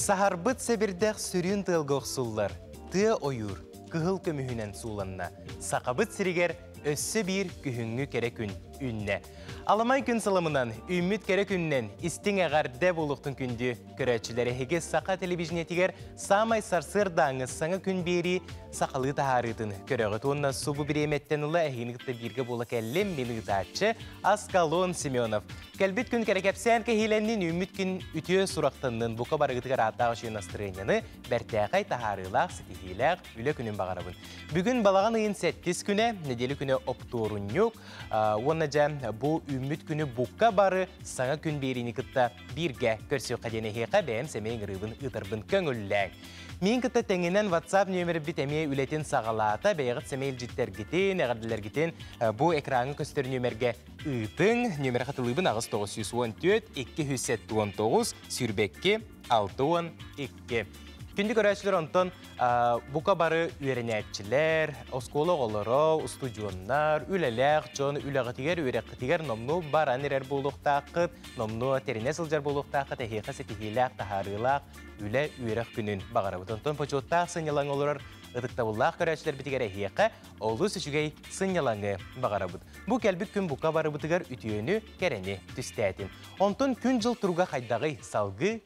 Саһарбыт сэбирдэх сүрүн тыалга охсуллар. Тыа ойуур кыһыл көмүһүнэн сууланна. Сахабыт сиригэр өссө биир күһүҥҥү кэрэ күн үннэ. Аламай күн сылымынан, үүммүт кэрэ күнүнэн истиҥ эҕэрдэ буолуохтун күндү көрөөччүлэр эһиги саха телевидениетигэр саамай сарсыардааҥы саҥа күн биэрии сахалыы таһаарыытын көрөҕүт уонна субу бириэмэттэн ыла эһиини кытта бииргэ буола кэллим мин ыытааччы Аскалон Семенов кэлбит күн кэрэ кэпсээн кэһиилэннин үүммүт күн үтүө сурахтаннын бука барыгытыгар ааттаах үчүгэй настырыанньаны бэртээхэй таһаарыылаах ситиһиилээх үлэ күнүн баҕарабын. Бүгүн балаҕан ыйын 7 күнэ, нэдиэлэ күнэ оптуорунньук уонна дьэ бу үүммүт күнү букка бары саҥа күн биэриини кытта бииргэ көрсүөххэ диэн эһиэхэ бэйэм сэмэй ыҥырыыбын ыытарбын көҥүллээҥ. Миин кытта тэҥинэн WhatsApp нөмербит эмиэ үлэтин саҕалаата. Бэйэҕит сэмэй илдьиттергитин, эҕэрдэлэргитин бу экраҥҥа көстөр нөмергэ ыытыҥ. Нөмерэ хатылыыбын аҕыс тоҕус сүүс уон түөрт икки үс сэттэ уон тоҕус сүүрбэкки алты уон икки. Күндү көрөөччүлэр онтон Бука бары үөрэнээччилэр, оскуола оҕолоро, устудьуоннар, үлэлээх дьон үлэҕитигэр, үөрэххитигэр номнуо баран эрэр буолуохтааххыт, номнуо тэринэ сылдьар буолуохтааххыт эһиэхэ ситиһиилээх, таһаарыылаах үлэ үөрэх күнүн баҕарабыт. Онтон почуоттаах сынньалаҥ олорор ытыктабыллаах көрөөччүлэрбитигэр эһиэхэ олус үчүгэй сынньалаҥы баҕарабыт. Бу кэлбит күн бука барыбытыгар үтүөнү, кэрэни түстээтин. Онтон күн-дьыл туруга хайдаҕый? Салгыы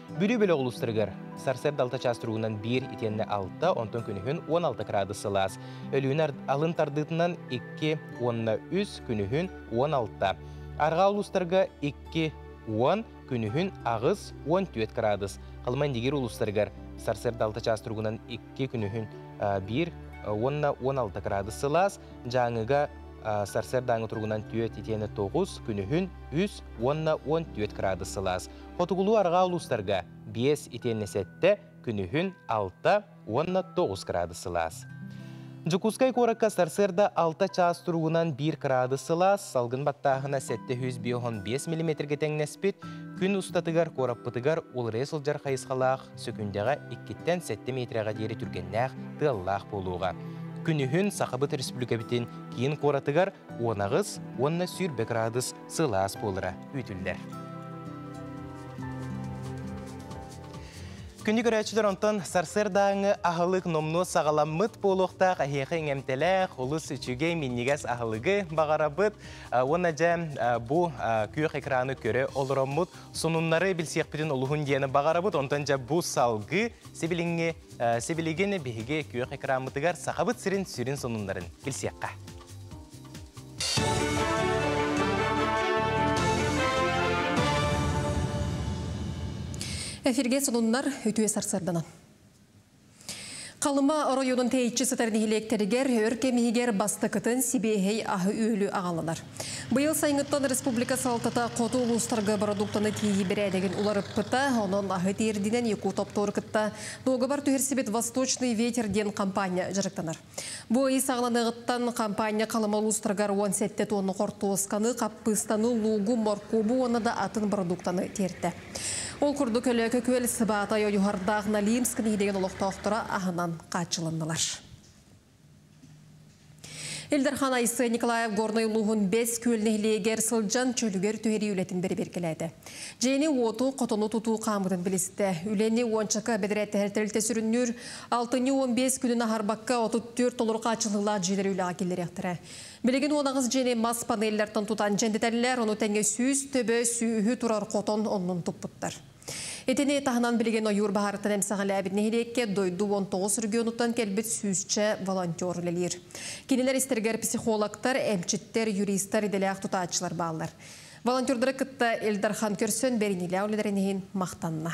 Бүлүү бөлөх улуустарыгар сарсыарда алта чаас туругунан биир итиэннэ алта, онтон күнүһүн он алта кыраадыс сылаас. Өлүүнү алын тардыытынан икки уонна үс, күнүһүн он алта. Арҕаа улуустарга икки уон, күнүһүн аҕыс, он түөрт кыраадыс. Халыма Индигир улуустарыгар сарсыарда алта чаас туругунан икки, күнүһүн биир уонна он алта кыраадыс сылаас. Дьааҥыга сарсыарда ааҥы туругунан түөрт итиэннэ тоҕус, күнүһүн үс уонна он түөрт кыраадыс сылаас. Хотугулуу-арҕаа улуустарга биэс итиэннэ сэттэ, күнүһүн алта уонна тоҕус кыраадыс сылаас. Дьокуускай куоракка сарсыарда алта чаас туругунан биир кыраадыс сылаас, салгын баттааһына сэттэ сүүс биоһон биэс миллиметргэ тэҥнэспит, күн устатыгар куораппытыгар уларыйа сылдьар хайысхалаах сөкүүндэҕэ иккиттэн сэттэ миэтирэҕэ диэри түргэннээх тыаллаах буолуоҕа. Күнүһүн Сахабыт Республикабытын киин куоратыгар уон аҕыс уонна сүүрбэ градус сылаас буолара күүтүллэр. Күнү көрөөччүлэр онтон сарсыардааҥы аһылык номнуо саҕаламмыт буолуохтаах эһиэхэ иҥэмтэлээх олус үчүгэй минньигэс аһылыгы баҕарабыт уонна дьэ бу күөх экраны көрө олороммут сонуннары билсиэхпитин олуһун диэни баҕарабыт онтон дьэ бу салгы сибилиҥҥи сибилигин биһиги күөх экранмытыгар сахабыт сирин сүрүн сонуннарын билсиэххэ Эфирге сонуннар үтүө сарсарданан. Халыма оройуонун тейчи сытар нэһилиэктэригэр өр кэмиһигэр бастакытын сибиэһэй аһы-үөлү аҕаланар. Быйыл сайыҥҥыттан республика салалтата хоту улуустарга бородууктаны тиэйии бэрээдэгин уларыппыта, онон аһы тиэрдинэн Якутоптор кытта дуогабар түһэрсибит «Восточный ветер» диэн компания дьарыктанар. Бу ыйы саҕаланыаҕыттан хампаанньа Халыма улуустарыгар уон сэттэ туонна хортуосканы, хаппыыстаны, луугу, моркуобу уонна да атын бородууктаны тиэртэ. Ол курдук Өлөөкө күөл Сыбаатай ойуһардаах Налимск нэһилиэгин олохтоохторо аһынан хааччылыннылар. Ил Дархан Айсен Николаев Горнай улууһун Бэс Күөл нэһилиэгэр сылдьан чөлүгэр түһэрии үлэтин бэрэбиэркэлээтэ. Дьиэни-уоту, хотону тутуу хаамыытын билистэ. Үлэни уончака бэдэрээттэһэр тэрилтэ сүрүннүүр Алтынньы уон биэс күнүн аһарбакка, отут түөрт толору хааччыллыылаах дьиэлэр үлэҕэ киллэриэхтэрэ. Билигин уонаҕыс дьиэни мас панеллартан тутан дьэндэтэллэр, ону тэҥэ сүүс төбө, сүүһү турар хотон оннун туппуттар. Итини таһынан билигин ойуур баһаарыттан эмсэҕэлээбит нэһилиэккэ дойду уон тоҕус регионуттан кэлбит сүүсчэ волонтер үлэлиир. Кинилэр истэригэр психологтар, эмчиттэр, юристар, идэлээх тутааччылар бааллар. Волонтердары кытта Ил Дархан көрсөн, бэриниилээх үлэлэрин иһин махтанна.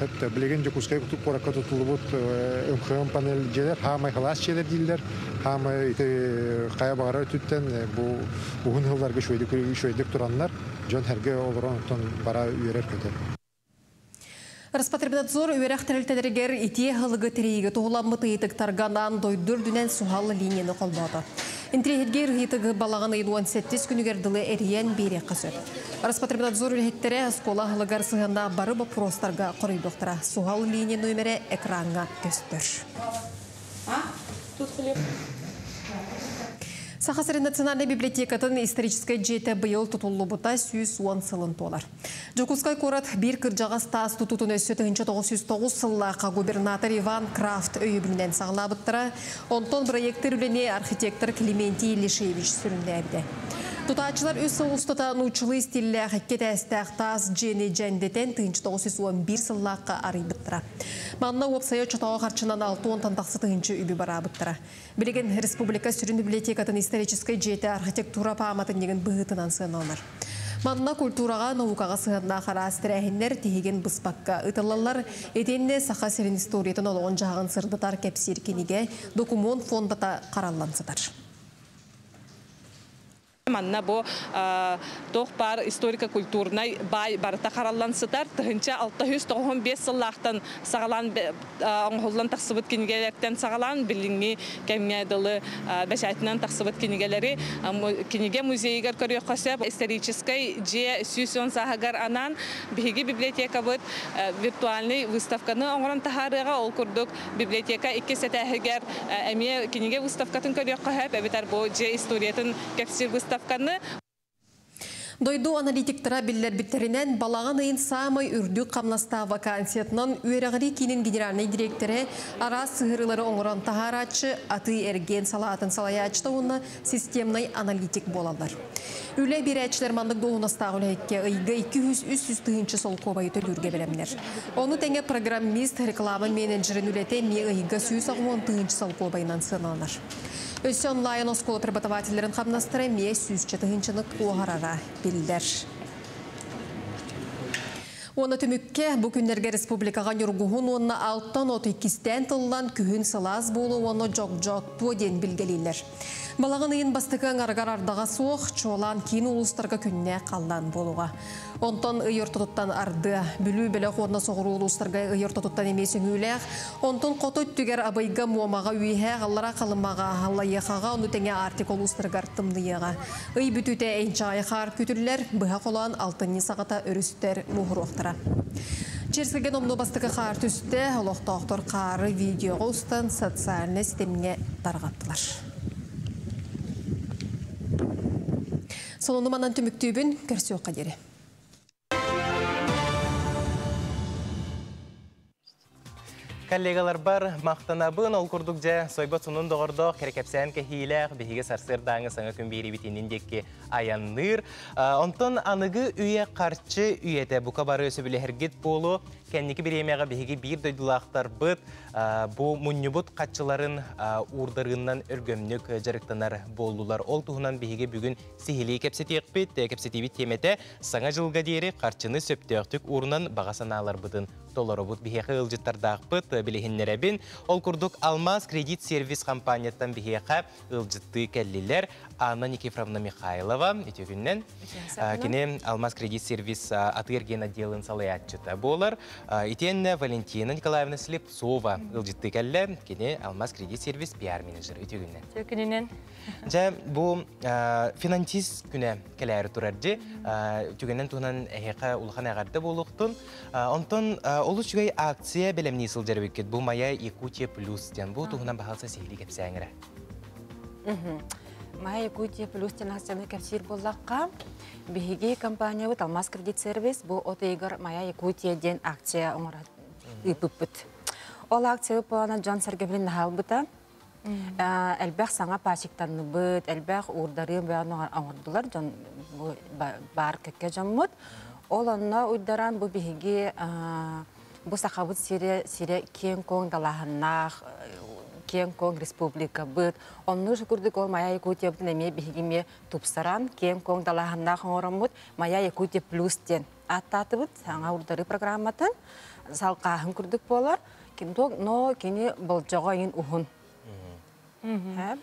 Сөптө. Билигин Дьокуускай куоракка тутуллубут МХМ панель дьиэлэр хаамай халаас дьиэлэр дииллэр. Хаамай ити хайа баҕара өтүттэн бу уһун сылларга үчүгэйдик тураннар дьон сэргэ олорон оттон бара үөрэр-көтөр. Роспотребнадзор үөрэх тэрилтэлэригэр итиэ аһылыгы тэрийиигэ туһуламмыт ыйытыктарга анаан дойду үрдүнэн суһал линияны холбоото. Интириэһиргиир ыйытыгы балаҕан ыйын уон сэттис күнүгэр дылы эрийэн биэриэххэ сөп. Роспотребнадзор үлэһиттэрэ оскуола аһылыгар сыһыаннаах бары боппуруостарга хоруйдуохтара. Суһал линия нүөмэрэ экраҥҥа көстөр. Саха сирин национальнай библиотекатын историческай дьиэтэ быйыл тутуллубута сүүс уон сылын туолар. Дьокуускай куорат биир кырдьаҕас таас тутуутун өссө тыһыынча тоҕус сүүс тоҕус сыллаахха губернатор Иван Крафт өйөбүлүнэн саҕалаабыттара. Онтон проектор үлэни архитектор Клементий Лешевич сүрүннээбитэ. Тутааччылар үс сыл устата нууччалыы стиллээх икки этээстээх таас дьиэни дьэндэтэн тыһыынча тоҕус сүүс он биир сыллаахха арыйбыттара. Манна уопсайа оччотооҕу харчынан алта уонтан тахса тыһыынча үбү бараабыттара. Билигин республика сүрүн библиотекатын историческай дьиэтэ архитектура пааматынньыгын быһыытынан сыаналанар. Манна культураҕа, наукаҕа сыһыаннаах араас тэрээһиннэр тиһигин быспакка ыытыллаллар, итиэннэ Саха сирин историятын олоҕун-дьаһаҕын сырдатар кэпсиир кинигэ, докумуон фондата хараллан сытар. Манна бу туох баар историко-культурнай баай барыта хараллан сытар. Тыһыынча алта жүз тоҕуһун биэс сыллаахтан саҕалаан оҥоһуллан тахсыбыт кинигэлэртэн саҕалаан билиҥҥи кэмҥэ дылы бэчээтинэн тахсыбыт кинигэлэри кинигэ музейыгар көрүөххэ сөп. Историческай дьиэ сүүс уон сааһыгар анаан биһиги библиотекабыт виртуальнай выставканы оҥорон таһаарыаҕа. Ол курдук Библиотека иккис этээһигэр эмиэ кинигэ выставкатын көрүөххэ сөп эбэтэр бу дьиэ историятын кэпсиир выставканы. Дойду аналитиктара биллэрбиттэринэн, балаҕан ыйын саамай үрдүк хамнастаах вакансиятынан Үөрэҕирии киинин генеральнай дириэктэрэ араас сыһыарыылары оҥорон таһаарааччы, атыы-эргиэн салаатын салайааччыта уонна системнай аналитик буолаллар. Үлэ биэрээччилэр маннык дуоһунастаах үлэһиккэ ыйга икки үс үс тыһыынча солкуобайы төлүүргэ бэлэмнэр. Ону тэҥэ программист, реклама менеджерин үлэтэ эмиэ ыйга сүүс аҕыс уон тыһыынча солкуобайынан сыаналанар. Өссө онлайн оскуола преподавателлэрин хамнастара эмиэ сүүсчэ тыһыынчаны туоһарара биллэр. Уонна түмүккэ, бу күннэргэ республикаҕа ньургуһун уонна алтан от иккистээн тыллан, күһүн сылаас буолуо уонна дьогдьооттуо диэн билгэлииллэр. Балаҕан ыйын бастакы аҥарыгар ардаҕа суох, чуолаан киин улуустарга күннээх халлаан буолуоҕа. Онтон ый ортотуттан ардыа, Бүлүү бөлөх уонна соҕуруу улуустарга ый ортотуттан эмиэ сөҥүүлээх, онтон хоту өттүгэр Абыйга, Муомаҕа, Үөһээ Аҕалара, Халымаҕа, Аллайыахаҕа, ону тэҥэ Арктика улуустарыгар тымныйыаҕа. Ый бүтүүтэ энчаҕай хаар күүтүллэр, быһа холоон алтынньы саҕата өрүстэр муоһуруохтара. Чэрсирген умнуу бастакы хаар түстэ, олохтоохтор хаары видеоҕа устан социальнай ситимҥэ тарҕаттылар. Сонуну манан түмүктүүбүн, көрсүөххэ диэри. Коллегаларбар махтанабын ол курдук дьэ сойбот сонун доҕордоох кэрэкэпсээн кэһиилээх биһиги сарсыардааҥы саҥа күн биэриибит иннин диэки айанныыр онтон аныгы үйэ харчы үйэтэ бука бары сөбүлэһэргит буолуо кэнники бириэмэҕэ биһиги биир дойдулаахтарбыт бу мунньубут хаччыларын уурдарыыннан өргөмнүк дьарыктанар буоллулар ол туһунан биһиги бүгүн сиһилии кэпсэтиэхпит кэпсэтиибит тиэмэтэ Саҥа дьылга диэри харчыны сөптөөхтүк уурунан баҕа санааларбытын толоробут. Биһиэхэ ыалдьыттардаахпыт, билиһиннэрэбин. Ол курдук, Алмаас кредит-сервис хампаанньаттан биһиэхэ ыалдьыттыы кэллилэр Анна Никифоровна Михайлова. Үтүөкүннэн. Кини Алмаас кредит-сервис атыы-эргиэн отделын салайааччыта буолар. Итиэннэ Валентина Николаевна Слепцова ыалдьыттыы кэллэ. Кини Алмаас кредит-сервис пиар-менеджер. Үтүөкүннэн. Үтүөкүнүнэн. Дьэ, бу финансист күнэ кэлээри турар дьи түгэнин туһунан эһиэхэ улахан эҕэрдэ буолуохтун. Онтон олус үчүгэй акция бэлэмнии сылдьар эбиккит. Бу Моя Якутия плюс диэн. Бу туһунан баһаалса сиһилии кэпсээҥэрэ. Моя Якутия плюс диэн акцияны кэпсиир буоллахха, биһиги компаниябыт Алмаз кредит сервис бу от ыйыгар Моя Якутия диэн акция оҥорон ыыппыппыт. Ол акция плана дьон сэргэбилин наһаалбыта. элбэх саҥа пачиктанныбыт, элбэх уурдарыын оҥордулар дьон бу баар кэккэ дьоммут. Ол онно уйдаран бу биһиги бу Сахабыт сире сире киэҥ-куоҥ далаһаннаах киэҥ-куоҥ республикабыт, оннук курдук ол Моя Якутия эмиэ биһиги эмиэ тупсаран киэҥ-куоҥ далаһаннаах оҥороммут Моя Якутия плюс диэн ааттаатыбыт саҥа урдары программатын салқааһын курдук буолар ким туох но кини болжоҕо иҥин уһун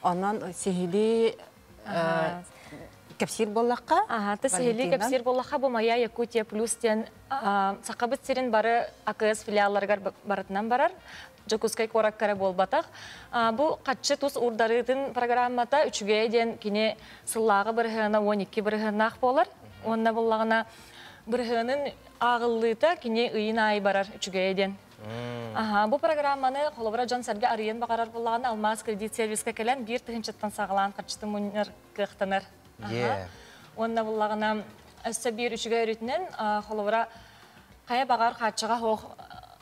онон сиһилии кэпсиир боллахха аһата сиһилии кэпсиир боллахха бу моя якутия плюс диэн сахабыт сирин бары акс филиалларыгар барытынан барар Дьокускай куораккара буолбатах. Бу хаччы тус урдарыытын программата үчүгэй диэн кини сыллааҕы бырыһыана 12 бырыһыаннаах буолар. Уонна буллаҕына бырыһыанын ааҕыллыыта кини ыйын аайы барар үчүгэйэ диэн. Аһаа, бу программаны холобура дьон-сэргэ арыйан баҕарар буллаҕына Алмаас кредит сервиска кэлэн биир тыһыынчаттан саҕалаан харчыты мунньар кыахтанар. Аһаа. Уонна буллаҕына өссө биир үчүгэй өрүтүнэн холобура хайа баҕар хааччаҕа суох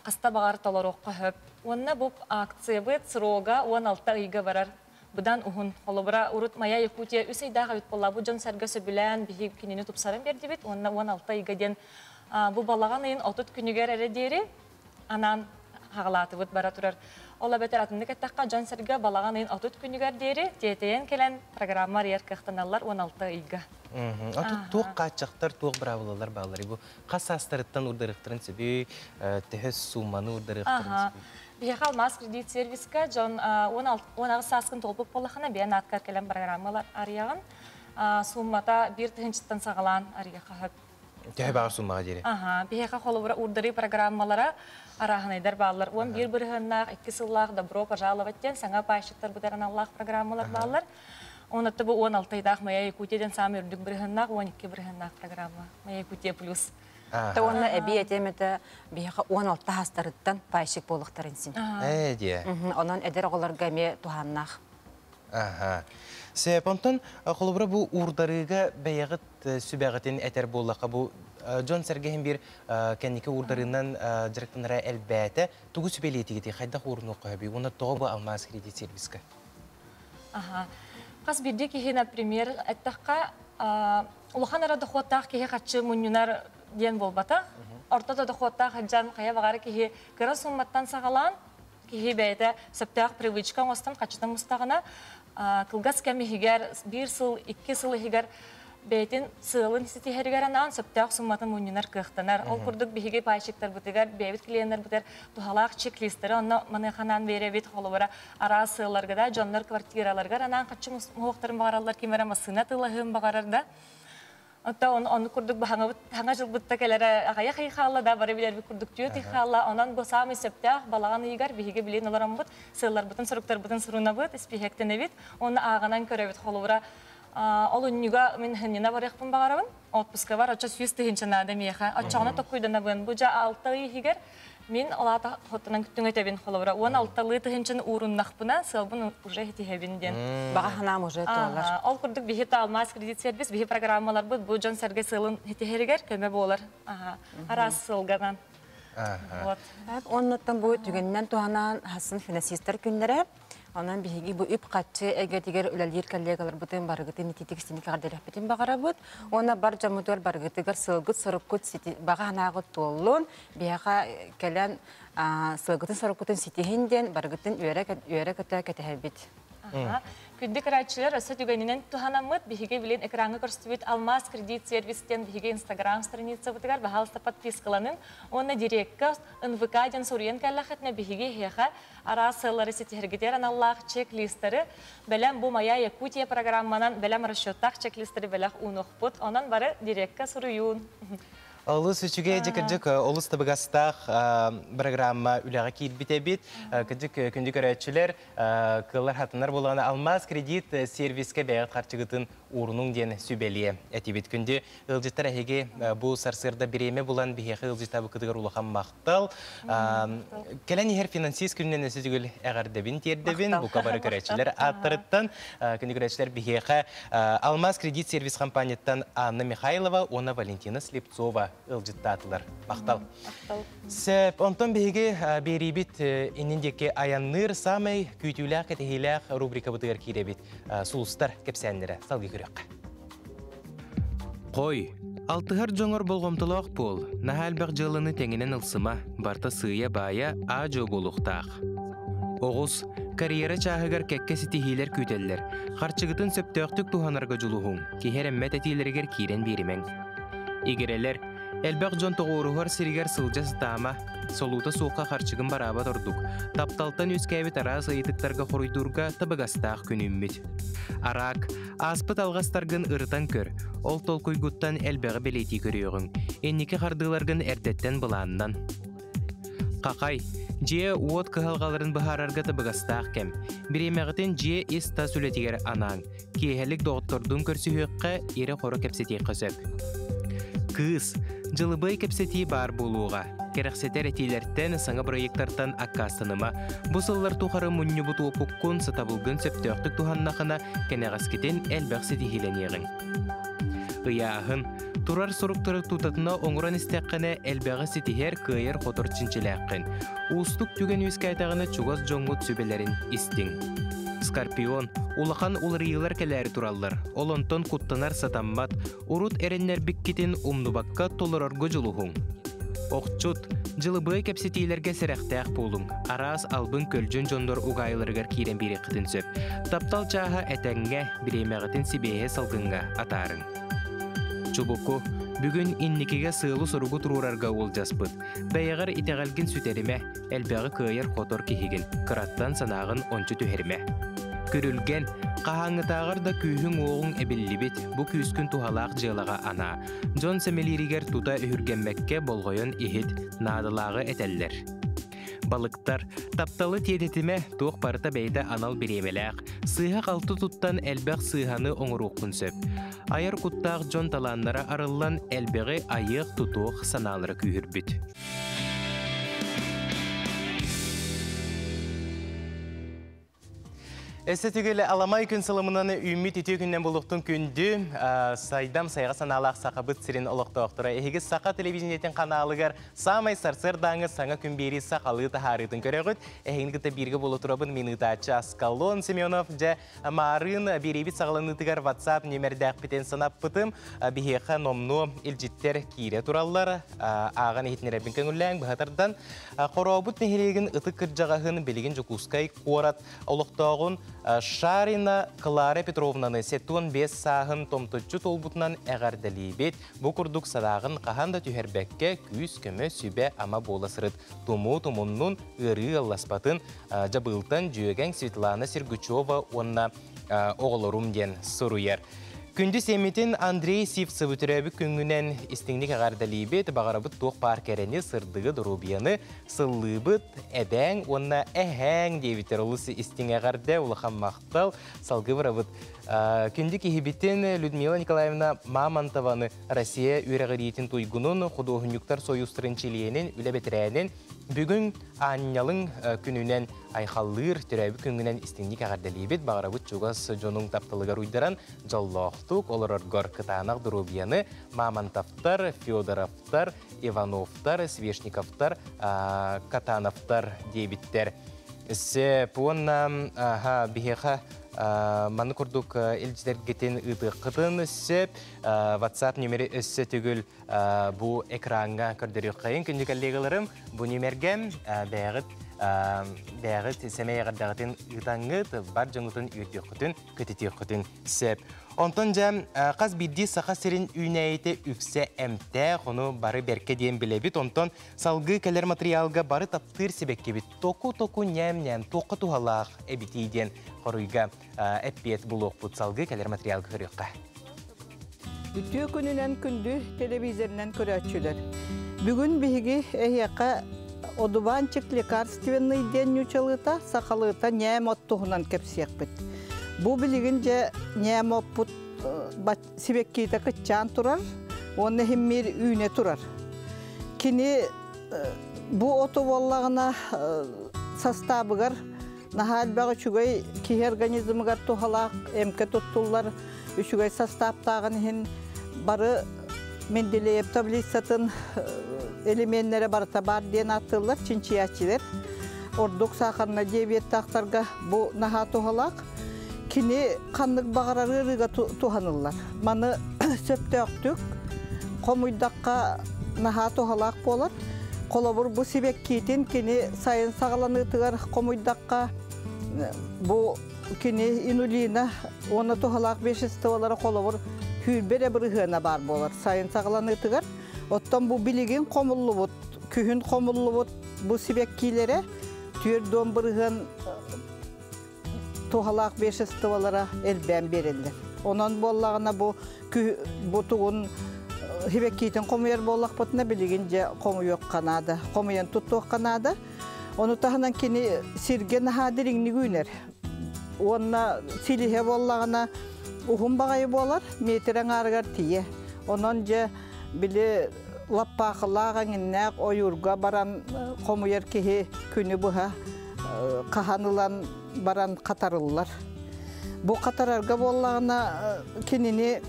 хаста баҕар толоруохха сөп. Уонна бу акциябыт срога уон алта ыйга барар. быдан уһун. Холобура, урут Моя Якутия үс ыйдаах эбит буоллаабыт дьон-сэргэ сөбүлээн биһи кинини тупсаран биэрдибит уонна уон алта ыйга диэн бу балаҕан ыйын отут күнүгэр эрэ диэри анаан хаҕалаатыбыт бара турар. Ол эбэтэр атыннык эттэххэ дьон-сэргэ балаҕан ыйын отут күнүгэр диэри тиэтэйэн кэлэн программа арыйар кыахтаналлар уон алта ыйга. Отут туох хааччахтар, туох быраабылалар бааллар? Бу хас саастарыттан уурдарыахтарын сөбүй? Төһө суумманы уурдарыахтарын сөбүй? Биһиэхэ алмаас кредит сервиска дьон уон аҕыс сааскын толкуйг буоллаххына бэйэн аатгар кэлэн программалар арыйаҕын. Сууммата биир тыһынчыттан саҕалаан арыйыха сөп. Төһө баҕар сууммаҕа диэри? Аһа, биһиэхэ холобура уурдарыы программалара, арааһынайдар бааллар. Уон биир бырыһыаннаах, икки сыллаах Добро пожаловать диэн саҥа паайщиктар бытар аналлаах программалар бааллар. Оннуттан бу уон алтайдаах Моя Якутия диэн саамай үрдүк бырыһыаннаах, уон икки бырыһыаннаах программа Моя Якутия плюс. Та уонна эбии этиэм этэ биһиэхэ уон алта хаастарыттан пайщик буолуохтарын син. Ээ диэ. Онон эдэр оҕолорго эмиэ туһааннаах. Аха. Сепонтон холобура бу уурдарыыга бэйэҕит сүбэҕитин этэр буоллахха бу дьон-сэргэ иһин биир кэнники уурдарыынан дьарыктанара элбээтэ. Тугу сүбэлиэтигитий? Хайдах уурунуохха сөбүй? Уонна тоҕо бу алмаас кредит сервиска? Аха. Хас биирдии киһи, например, эттэххэ улахан эрэ дохуоттаах киһи харчы мунньунар диэн буолбатах. Орто да дохуоттаах дьон хайа баҕары киһи кыра суумматтан саҕалаан, киһи бэйэтэ сөптөөх привычка оҥостон харчытын мустаҕына, кылгас кэм иһигэр биир сыл, икки сыл иһигэр бэйэтин сыалын ситиһэригэр анаан сөптөөх сумматын мунньунар кыахтанар. Ол курдук биһиги пайщиктарбытыгар, бэйэбит клиеннэрбитигэр туһалаах чек-листтэри онно маныаха анаан биэрэбит, холобура, араас сыалларга да дьоннор квартираларыгар анаан хаччыҥ уҥуохтарын баҕараллар ким эрэ массыына атыылаһыан баҕарар да Оттон онну курдук баһаҥабыт саҥа дьылбытта кэлэрэ аҕыйах ый хаалла да бары билэрбит курдук түөрт ый хаалла. Онон бу саамай сөптөөх балаҕан ыйыгар биһиги билин олороммут сыалларбытын суруктарбытын сурунабыт, испииһэктэнэбит уонна ааҕынан көрөбүт холобура олунньуга мин ханньына барыахпын баҕарабын отпускабар оччо сүүс тыһыынча наада миэхэ оччоҕуна токкуйданабын бу дьэ алта ый иһигэр Мин алаата хоттунан күттүҥэтэбин холобура уон алталыы тыһынчын ууруннахпына сыалбын уже этиһэбин диэн. Баҕа санаам уже туолар. Ол курдук биһи талмаас кредит сервис биһи программаларбыт бу дьон сэргэ сыалын этиһэригэр көмө буолар араас сыалганан. Вот. Оннуттан бу түгэннэн туһанан хасын финансистар күннэрэ Онон биһиги бу үп-харчы эйгэтигэр үлэлиир коллегаларбытын барыгытын ититик синикэҕэр диэрэхпитин баҕарабыт. Уонна бар дьоммутугар барыгытыгар сылгыт-соруккут сити баҕа санааҕыт туоллун. Биһиэхэ кэлэн сылгытын-соруккутун ситиһин диэн барыгытын үөрэ-көтө кэтэһэбит. Күндү кырааччылар, өссө түгэнинэн туһанаммыт биһиги билин экраҥҥа көрсүбүт Алмаас кредит сервис диэн биһиги Инстаграм страницабытыгар баһаалыста подпискаланыҥ уонна дирекка НВК диэн суруйан кэллэххитинэ биһиги эһиэхэ араас сыаллары ситиһэргитигэр аналлаах чек-листары, бэлэм Бу моя Якутия программанан бэлэм расчеттаах чек-листары бэлэх уунуохпут, онон бары дирекка суруйуун. Олус үчүгэй, дьэ, кырдьык, олус табыгастаах программа үлэҕэ киирбит эбит. Кырдьык, күндү көрөөччүлэр, кыаллар хатынар буолаҕына алмаас кредит сервискэ бэйэҕит харчыгытын уурунуҥ диэн сүбэлиэ этибит. Күндү ыалдьыттар, эһиги бу сарсыарда бириэмэ булан биһиэхэ ыалдьыттабыккытыгар улахан мах Таал, кэлэн иһэр финансист күнүнэн өссө түгүл эҕэрдэбин тиэрдэбин. Бука бары көрөөччүлэр ааттарыттан, күндү көрөөччүлэр биһиэхэ Алмаз кредит сервис хампаанньыттан Анна Михайлова уонна Валентина Слепцова ыалдьыттаатылар. Махтал. Сөп. Онтон биһиги биэриибит иннин диэки айанныыр саамай күүтүүлээх-кэтэһиилээх рубрикабытыгар киирэбит сулустар кэпсээннэрэ. Салгыы көрүөххэ. Қой, алтыһар дьоҥор болҕомтолоох буол, наһаа элбэх дьыаланы тэҥинэн ылсыма, барта сыыйа-баайа, аа-дьуо буолуохтаах. Оҕус, карьера чааһыгар кэккэ ситиһиилэр күүтэллэр, харчыгытын сөптөөхтүк туһанарга дьулуһуҥ, киһи эрэммэт этиилэригэр киирэн биэримэҥ. Игирэлэр, элбэх дьон тоҕуоруһар сиригэр сылдьа сатаама, солуута суохха харчыгын бараабат ордук, тапталтан үөскээбит араас ыйытыктарга хоруйдуурга табыгастаах күнүммүт. Араак, Ааспыт алҕастаргын ырытан көр, ол толкуйгуттан элбэҕи бэлиэтии көрүөҕүҥ. Инники хардыыларгын эрдэттэн былааннан. Хахай, дьиэ-уот кыһалҕаларын быһаарарга табыгастаах кэм. Бириэмэҕитин дьиэ ис-тас үлэтигэр анаан, киэһэлик доҕоттордуун көрсүһүөххэ, ирэ-хоро кэпсэтиэххэ сөп. Кыыс, дьылыбыай кэпсэтии баар буолуоҕа. Кэрэхсэтэр этиилэртэн, саҥа проектартан аккаастаныма. Бу сыллар тухары мунньубут уопуккун, сатабылгын сөптөөхтүк туһаннахына, кэнэҕэскитин элбэх ситиһиилэниэҕиҥ. Ыйааһын турар соруктары тутатына оҥорон истэххинэ элбэҕи ситиһэр, кыайар-хотор чинчилээххин. Уустук түгэн үөскээтэҕинэ чугас дьоҥҥут сүбэлэрин истиҥ. Скорпион улахан уларыйыылар кэлээри тураллар, ол онтон куттанар сатаммат, урут эрэннэрбиккитин умнубакка толорорго дьулуһуҥ. Охчут, дьылыбыай кэпсэтиилэргэ сэрэхтээх буолуҥ. Араас албын көлдьүн дьоннор угаайыларыгар киирэн биэриэххитин сөп. Таптал чааһа этэҥҥэ, бириэмэҕитин сибиэһэ салгыҥҥа атаарыҥ. Чубуку, бүгүн инникигэ сыалы-соругу туруорарга уолдьаспыт. Бэйэҕэр итэҕэлгин сүтэримэ, элбэҕи кыайар-хотор киһигин, кыраттан санааҕын ончу түһэримэ. Күрүлгэн, хаһааҥҥытааҕар да күүһүҥ-уоҕуҥ эбиллибит бу күүскүн туһалаах дьыалаҕа анаа. Дьон сэмэлииригэр тута үһүргэммэккэ болҕойон иһит, наадалааҕы этэллэр. Балыктар, тапталы тиэтэтимэ туох барыта бэйэтэ анал бириэмэлээх, сыыһа-халты туттан элбэх сыыһаны оҥоруоххун сөп. Айар куттаах дьон талааннара арыллан элбэҕи айыах-тутуох санаалара күүһүрбүт. Эссе түгелі аламай күн сылымынан үүммүт үтүө күннен булуктун күндү сайдам сайга санаалаах сахабыт сирин олохтоохторо эһиги саха телевидениетин каналыгар самай сарсыардааҥы саҥа күн биэрии сахалыы таһаарыытын көрөгүт эһигин кытта бииргэ боло турабын минутааччы аскалон семенов же Маарыын биэрэйбит саҕаланыытыгар WhatsApp нүөмэрдээхпитин санаппытым. Биһиэхэ номнуо илдьиттэр киирэ тураллар. Ааҕан иһитиннэрэрбин көҥүллээҥ быһа тардан. Хорообут нэһилиэгин ытык кырдьаҕаһын билигин Дьокуускай куорат олохтооҕун Шарина Клара Петровнаны сэтуон биэс сааһын томточчу туолбутунан эҕэрдэлиибит. Бу курдук садааҕын хаһан да түһэрбэккэ күүс-көмө, сүбэ-ама буола сырыт. тумуу-тумуннун, ыарыы алласпатын Дьабыылтан Дьүөгэҥ Светлана Сергучева уонна оҕолорум диэн суруйар. Күндү сиэммитин Андрей Сивцевы төрөөбүт күҥҥүнэн истиҥник эҕэрдэлиибит, баҕарабыт туох баар кэрэни, сырдыгы, доруобуйаны, сыллыыбыт, эбээҥ уонна эһээҥ диэбиттэр олус истиҥ эҕэрдэ, улахан махтал. Well, салгыы барабыт. Күндү киһибитин Людмила Николаевна Мамонтованы Россия үөрэҕириитин туйгунун, худуоһунньуктар сойуустарын чилиэнин, үлэ бэтэрээнин, бүгүн Аанньалыҥ күнүнэн айхаллыыр, төрөөбүт күнгүнэн истиҥник эҕэрдэлиибит, баҕарабыт чугас дьонуҥ тапталыгар уйдаран дьоллоохтук олороргор кытаанах доруобуйаны Мамонтовтар, Федоровтар, Ивановтар, Свешниковтар, Катановтар диэбиттэр. Сеп уонна аха биһиэхэ маны курдук илдьитэргитин ыытыаххытын сөп whatsapp нөмүрү өссө төгүл бу экраҥҥа көрдөрүөххэйин күндү коллегаларым бу нөмэргэ бэйэҕит бэйэҕит сэмэй эҕэрдэҕитин ыытаҥҥыт бар дьоҥҥутун үөрдүөххүтүн көтүтүөххүтүн сөп онтон дьэ хас биирдии саха сирин үүнээйитэ үксэ эмтээх ону бары бэркэ диэн билэбит онтон Салгыы кэлэр матырыйаалга бары таптыыр сибэккибит току-току ньээм-ньээм туохха туһалаах эбитий диэн хоруйга эппиэт булуохпут. Салгыы кэлэр матырыйаалга көрүөххэ. Үтүө күнүнэн күндү телевизорынан көрөөччүлэр. Бүгүн биһиги эһиэхэ одуванчик лекарственный диэн ньучалыыта сахалыыта ньээм оттуһунан кэпсиэхпит. Бу билигин дьэ ньээм оппут сибэккиитэ кыччаан турар уонна иһиммиир үүнэ турар. Кини бу оту буоллаҕына састаабыгар наһаа элбэх үчүгэй киһи организмыгар туһалаах эмкэ туттуллар үчүгэй састааптааҕын иһин бары Менделеев таблицатын элеменнэрэ барыта баар диэн ааттыыллар чинчийээччилэр. Ордук саахарна диабеттаахтарга бу наһаа туһалаах. Кини ханнык баҕарар ыарыыга туһаныллар. Маны сөптөөхтүк хомуйдахха наһаа туһалаах буолар. Холобур, бу сибэккиитин кини сайын саҕаланыытыгар хомуйдахха, бу кини инулина уонна туһалаах веществолара холобур күүрбэ эрэ бырыһыана баар буолар сайын саҕаланыытыгар. Оттон бу билигин хомуллубут, күһүн хомуллубут бу сибэккиилэрэ түөрт дуон бырыһыан туһалаах веществолара элбээн биэрэллэр. Онон буоллаҕына бу бу тугун хибэккиитин хомуйар буоллахпытына билигин дьэ хомуйуохха наада. Хомуйан туттуохха наада. Ону таһынан кини сиргэ наһаа дириҥник үүнэр. Уонна силиһэ буоллаҕына уһун баҕайы буолар, метр аҥаарыгар тиийэ. Онон дьэ били лаппаакылаах эҥиннээх ойуурга баран хомуйар киһи күнү быһа хаһан ылан баран хатарыллар. Бу хатарарга буоллаҕына кинини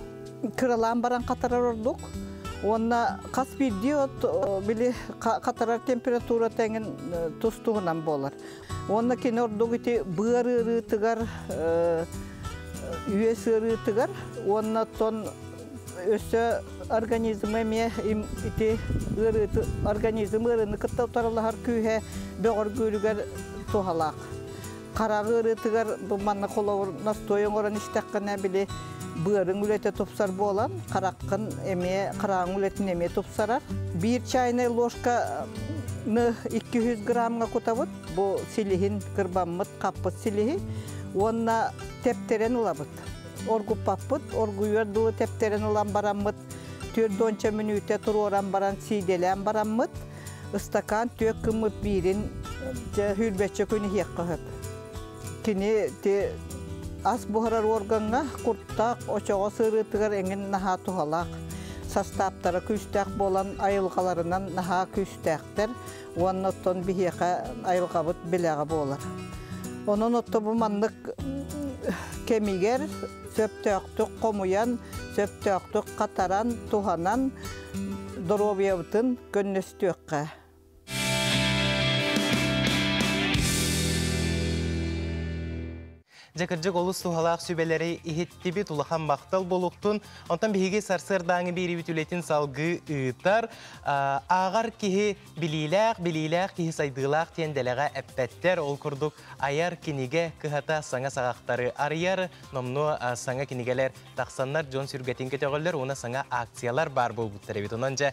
кыралаан баран хатарар ордук. Уонна хас биирдии от били хатарар температура эҥин тус-туһунан буолар. Уонна кини ордук ити быар ыарыытыгар, үөс ыарыытыгар уонна оттон өссө организмы эмиэ ити ыарыыты организм ыарыыны кытта утарылаһар күүһэ бөҕөргүүрүгэр туһалаах. Хараҕы ыарыытыгар манна холобур настой оҥорон истэххинэ били быарыҥ үлэтэ тупсар буолан, хараххын эмиэ, храаҥ үлэтин эмиэ тупсарар. Биир чайная ложка икки граммҥа кутабыт. Бу силиһин кырбаммыт хаппыт силиһи уонна тэптэрэн ылабыт. Оргуппаппыт, оргуйуор дылы тэптэрэн ылан бараммыт түөрт уонча мүнүүтэ туруоран баран сиидэлээн бараммыт. Ыстакаан түөрт кыммыт биирин дьэ, хүрбэччэ күн иһиэххэ сөп. Кини ас буһарар уоргаҥҥа куртаах очоҕо сырыытыгар эҥин наһаа туһалаах. Састааптара күүстээх буолан айылҕаларынан наһаа күүстээхтэр уонна оттон биһиэхэ айылҕабыт билэҕэ буолар. Онон отто бу маннык кэмигэр сөптөөхтүк хомуйан, сөптөөхтүк хатаран, туһанан доруобуйабытын көннөстүөххэ. Дьэ, кырдьык олус туһалаах сүбэлэри иһиттибит, улахан махтал буолуктун. Онтон биһиги сарсыардааҥы биэриибит үлэтин салгыы ыытар. Ааҕар киһи билиилээх, билиилээх киһи сайдыылаах диэн дэлэҕэ эппэттэр. Ол курдук айар кинигэ кыһата саҥа саҕахтары арыйар, номнуо саҥа кинигэлэр тахсаннар дьон сүргэтин көтөҕөллөр уонна саҥа акциялар баар буолбуттар эбит. Онон дьэ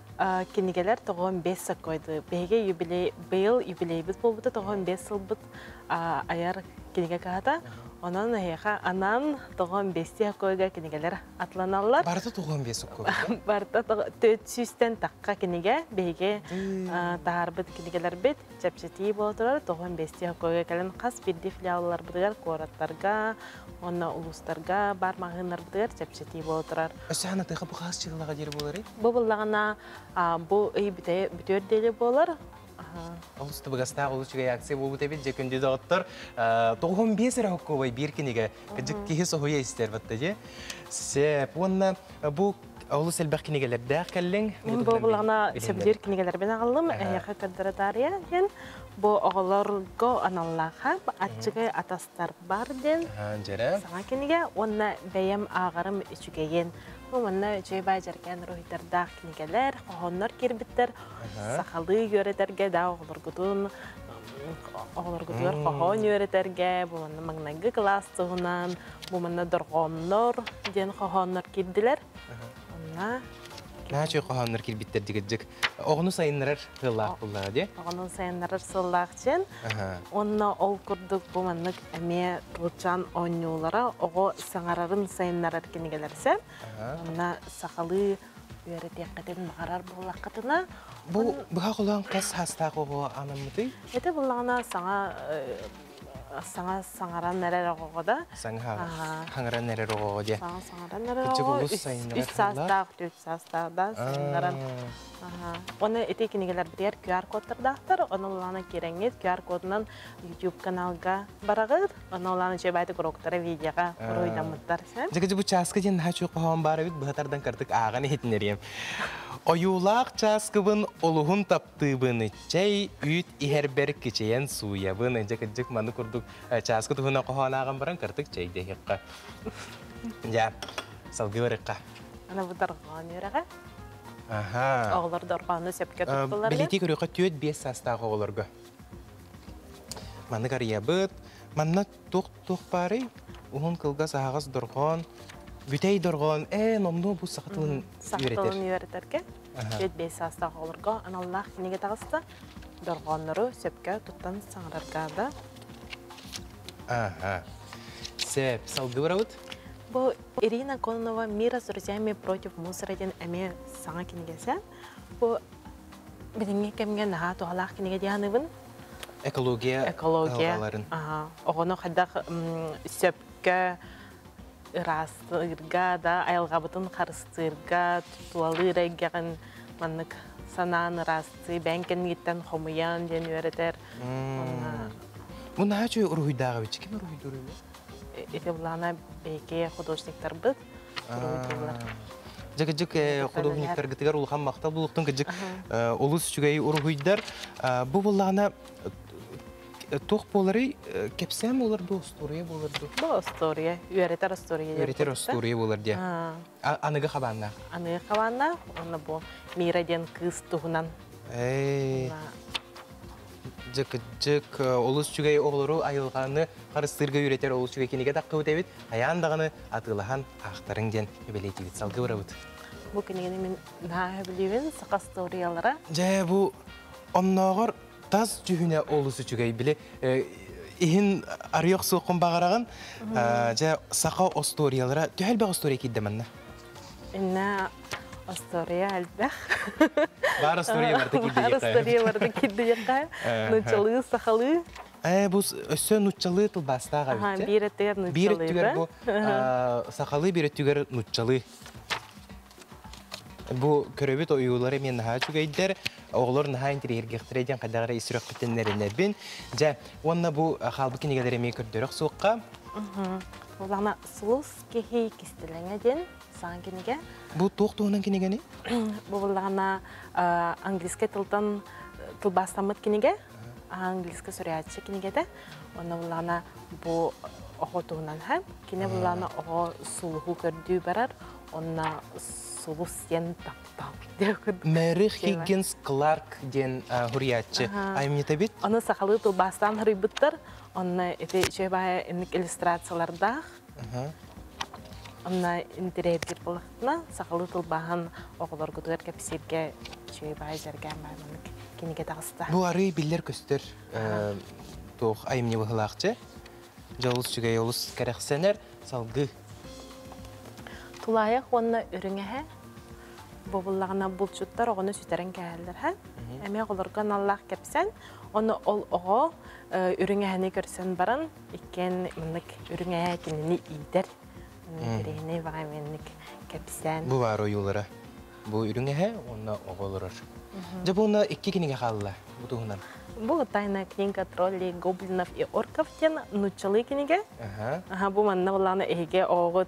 кинигэлэр тоҕон бес саккойды биһиги юбилей быйыл юбилейбит буолбута тоҕон бес сылбыт айар кинигэ каһата онон эһиэха анаан тоҕон бести хакойга кинигэлер атланаллар барыта тоҕон бес хакой барыта төрт сүүстэн такка кинигэ биһиги таһаарбыт кинигэлэрбит чэпчэтии буола турар. Тоҕон биэстии хоккейга кэлэн хас биирдии филиалларбытыгар, куораттарга уонна улуустарга баар маҕаһыыннарбытыгар чэпчэтии буола турар. Өссө тыаха бу хаас чыыллаҕа диэри буоларый? Бу быллаҕана бу ый бүтүөр диэри буолар. Олус табыгастаах, олус үчүгэй акция буолбут эбит. Дьэ күндү доҕоттор, тоҕуһум биэс эрэ хоккуобай биир кинигэ кыдьык киһи соһуйа истэр, батта дьэ. Сеп уонна бу Олус элбэх кинигэлэрдээх кэллиҥ. Бу сөбүлүүр кинигэлэрбин аҕаллым. Эһиэхэ көрдөрө таарыйа диэн. Бу оҕолорго аналлааха «Аччыгай атастар бар» диэн саҥа кинигэ уонна бэйэм ааҕарым үчүгэйин. Уонна үчүгэй дьэргээн уруһуйдардаах кинигэлэр, хоһооннор киирбиттэр. Сахалыы үөрэтэргэ да оҕолоргутун оҕолоргутугар хоһоон үөрэтэргэ, маҥнайгы кылаас туһунан бу манна дорҕооннор диэн хоһооннор киирдилэр. Онно Наачы хоһооннор кирбиттэр дигирдик оҕону сайыннарар сыллаах буллана ди. Оҕону сайыннарар сыллаах чен. Онно ол курдук бу маннык эмиэ тылчан оонньуулара оҕо саҥарарын сайыннарар кинигэлэрсен. Онно сахалыы үөрэтиэххитин баҕарар буоллаххытына бу быһа холоон хас саастаах оҕо анаммытый? Эти буллаҕына саҥа саҥа саҥаран эрэр оҕоҕо да саҥа саҥаран эрэр оҕоҕо диэн саҥа саҥаран эрэр оҕоҕо үс саастаах үс саастаахтан саҥаран оны ити кинигэлэрбитигэр QR кодтардаахтар оны улаанан кирэҥҥит QR кодунан YouTube каналга бараҕыт оны улаанан чэбээтик уроктара видеоға уруйдаммыттар сен Жигиди бу чааска диэн наһаа чуох хоһоон баар эбит быһатардан кыртык ааҕан иһитинэриэм ойуулаах чааскыбын олуһун тап тыыбыныччай үүт иһэрбэр кичэйэн сууйабын дьэ кырдьык маны курдук чааскы туһунан хоһоонааҕын баран кыртык чэйдэһиэххэ дьэ салгыы барыахха аны бу дорҕоон үөрэҕэ аха оҕолор дорҕоону сөпкө туттулар билиити көрүөххэ түөрт биэс саастаах оҕолорго маннык арыйабыт манна туох туох баарый уһун кылгас аһаҕас дорҕоон бүтэй дорҕоон ээ номнуо бу саха тылын үөрэтэр үөрэтэргэ түөрт биэс саастаах оҕолорго аналлаах кинигэ таҕыста дорҕооннору сөпкө туттан саҥарарга да ага сеп салгыбыравыт бу ирина коннова мира с друзьями против мусора диэн эмиэ саҥа кинигэсэ бу билиҥҥи кэмҥэ наһаа туһалаах кинигэ диэн экология экология оҕону хайдах сөпкө ыраастыырга да айылҕабытын харыстыырга тутуалыыр эйгэҕин маннык санаан ыраастыы бэйэҥ кэнниттэн хомуйан диэн үөрэтэр Мунаачу уруһуйдааҕы ким уруһуйдуур ити Ивлана бэйки художниктарбыт Дьэ кыдьык художниктаргытыгар улахан махтал булуохтун кыдьык олус үчүгэй уруһуйдар бу буоллаҕына туох буоларый кэпсээн буолар дуу остуоруйа буолар дуу бу остуоруйа үөрэтэр остуоруйа үөрэтэр остуоруйа буолар диэ аныгы хабааннаах аныгы хабааннаах уонна бу мира диэн кыыс туһунан кыддьык олус үчүгэй оҕолору айылҕаны харыстыырга үөрэтэр олус үчүгэй кинигэ таххыбыт эбит хайаан даҕаны атыылаһан аахтарыҥ диэн эбэлэйтибит салгыы барабыт бу кинигəni мен наһаа сөбүлүүбүн саха историялара дьэ бу оннооҕор тас дьүһүнэ олус үчүгэй били иһин арыйах суоххун баҕараҕын дьэ саха остуориялара төһө элбэх остуория киирдэ манна инна остуоруйа элбэх баар остуоруйа барыта кирдиэххэ остуоруйа барыта кирдиэххэ нуччалыы сахалыы Э, бу өссө нуччалыы тылбаастаах эбит. Биир өттүгэр нуччалыы. Биир өттүгэр бу сахалыы, биир өттүгэр нуччалыы. Бу көрөбүт ойуулары мен наһаа үчүгэйдер. Оҕолор наһаа интириһиргехтере диэн хайдах эрэ исүрөхпүттэннэриннэрбин. Дьэ, уонна бу хаалбыт кинигэлэри эмиэ көрдөрөх суохха. Улана сулус Кехи кистелеңе диэн саан кинигэ. Бу туох туһунан кинигэни? Бу буллаҕына английский тылтан тылбаастаммыт кинигэ, английский сурьяччы кинигэтэ. Онно буллаҕына бу оҕо туһунан ха. Кине буллаҕына оҕо сулуһу көрдүү барар, онна сулус диэн таптал Мэрих Хиггинс Кларк диэн хурияччы аймнитебит. Аны сахалыы тылбаастаан харуйбуттар, онно эти чөбая инник иллюстрациялардаах. Онно интириэһиргиир буолахпына, сахалыы тылбаһан оҕолоргутугар кэпсииргэ үчүгэй баай зэргээн баай маннык кинигэ таҕыста. Бу арыый биллэр-көстөр туох айымньы быһылаах дьэ. Дьолус үчүгэй олус кэрэхсэнэр, салгыы. Тулаайах уонна үрүҥэһэ бобуллаҕына булчуттар оҕону сүтэрэн кээһэллэр һэ. Эмиэ оҕолорго аналлаах кэпсэн, ону ол оҕо үрүҥэһэни көрсөн баран Иккиэн маннык үрүҥэ кинини иитэр, кэриэһинэй баҕайменник кэпсээн. Бу баар ойуулара. Бу үрүҥэһэ уонна оҕо олорор. Дьэ бу уонна икки кинигэ хаалла бу туһунан. Была тайная книга троллей гоблинов и орков диэн нууччалыы кинигэ. Ага. Ага бу манна улаана эһиги оҕоҕут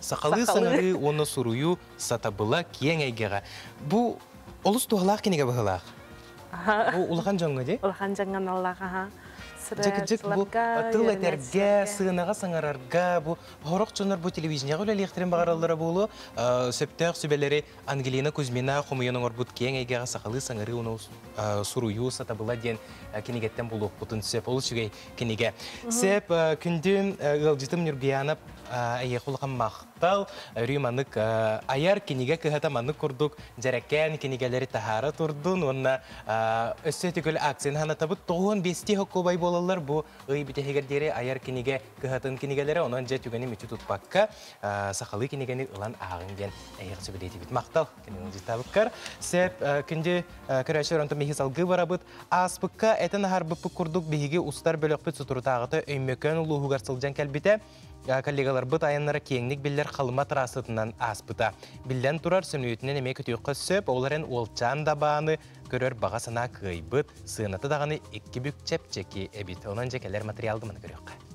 Сахалыы саҥарыы уонна суруйуу сатабыла киэҥ эйгэҕэ. Бу олус туһалаах кинигэ быһыылаах. Бу улахан дьоҥҥо дии? Улахан дьоҥҥо наллах, аха. Дьэкидьэк бу тыл этэргэ, сыанаҕа саҥарарга, бу сорох дьоннор бу телевидениеҕэ үлэлиэхтэрин баҕараллара буолуо. Сөптөөх сүбэлэри Ангелина Кузьмина хомуйан оҥорбут киэҥ эйгэҕэ сахалыы саҥарыы уонна суруйуу сатабыла диэн кинигэттэн булуохпутун сөп. Олус үчүгэй кинигэ. Сеп күндүм ыалдьытым Нюргуянов эйиэхул махтал өрүү манык айар кинигэ кыһата маннык курдук дьэрэкээн кинигэлэри таһаара турдун уонна өссө түгэл акцияны ханатабыт тоҕуон бести хоккубай буолаллар бу ый бүтэһигэр диэри айар кинигэ кыһатын кинигэлэрэ онон дьэ түгэни мүчү тутпакка сахалыы кинигэни ылан ааҕыҥ диэн эйиэхэ сөбүлээтибит махтал дьытабыккар сеп күнди көрөөчөр онтон миһи салгыы барабыт ааспыкка этин аһарбыппыт курдук биһиги устар бөлөхпүт сутурутааҕыта өймөкөөн улууһугар сылдьан кэлбитэ коллегаларбыт айаннара киэҥник биллэр халыма трассатынан ааспыта биллэн турар сөнүйүтүнэн эмиэ көтүөххэ сөп ол эрэн уолчаан дабааны көрөр баҕа санаа кыайбыт сыаната даҕаны икки бүк чэпчэки эбит онон дьэ кэлэр материалга маны көрүөххэ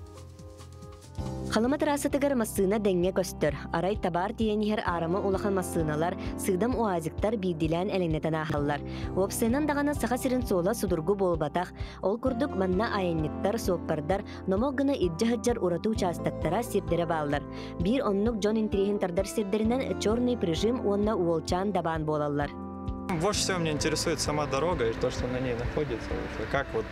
Халыма трассатыгар массыына дэҥҥэ көстөр. Арай табаар тиийэн иһэр аарама улахан массыыналар, сыыдам УАЗиктар биирдилээн элэҥнэтэн ааһаллар. Уопсайынан даҕаны Саха сирин суола судургу буолбатах. Ол курдук манна айанньыттар, суоппардар номох гына илдьэ сылдьар ураты учаастактара сирдэрэ бааллар. Биир оннук дьон интириэһин тардар сирдэринэн Черный прижим уонна Уолчаан дабаан буолаллар. Вот что меня интересует сама дорога и то, что на ней находится. Как вот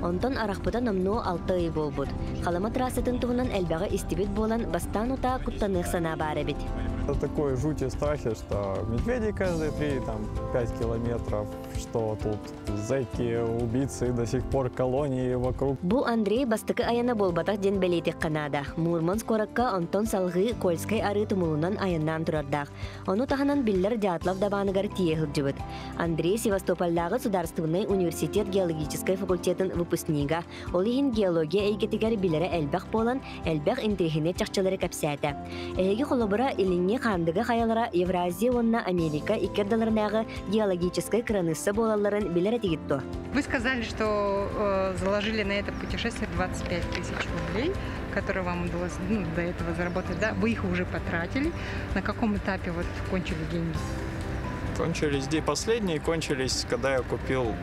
Онтон арахпыта номнуо алта ый буолбут. Халыма трассатын туһунан элбэҕи истибит буолан, бастаан утаа куттаныах санаа баар эбит. Это такое жутье страхи, что медведей каждые 3-5 километров, что тут зайти, убийцы, до сих пор колонии вокруг. Бу Андрей бастакы айана буолбатах диэн бэлиэтиэххэ наада. Мурманск куоракка онтон салгыы Кольскай арыы тумулунан айаннаан турардаах. Ону таһынан биллэр дьаатлар дабааныгар тиийэ сылдьыбыт. Андрей Севастопольдааҕы судаарыстыбынай университет геологическай факультетын выпускнига, ол иһин геология эйгэтигэр билэрэ элбэх буолан, элбэх интриһинэ чахчылары кэпсээтэ. Эһиги холобура илиҥҥи хаандыга хайалара Евразия уонна Америка икки ардыларынааҕы геологическай кыраныысса буолалларын билэр этигит дуо? Вы сказали, что э, заложили на это путешествие 25 тысяч рублей, которые вам удалось ну, до этого заработать. Да? Вы их уже потратили. На каком этапе вот кончили деньги? Кончились, да, последние кончились, когда я купил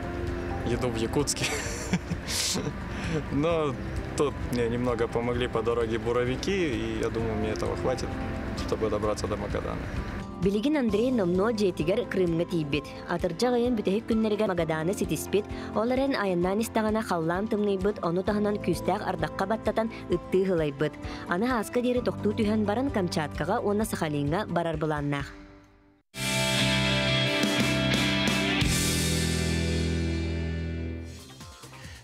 еду в Якутске. Но тут мне немного помогли по дороге буровики, и я думаю, мне этого хватит, чтобы добраться до Магадана. Билигин Андрей номно дьиэтигэр Крымга тиийбит. Атырдьах айын бүтэһик күннэригэр Магаданы ситиспит, ол эрэн айаннаан истэҕинэ халлаан тымныйбыт, ону таһынан күүстээх ардахха баттатан Ыттыы һылайбыт. Аны Һааска диэри тохтуу түһэн баран Камчаткаҕа уонна Сахалиҥҥа барар былааннаах.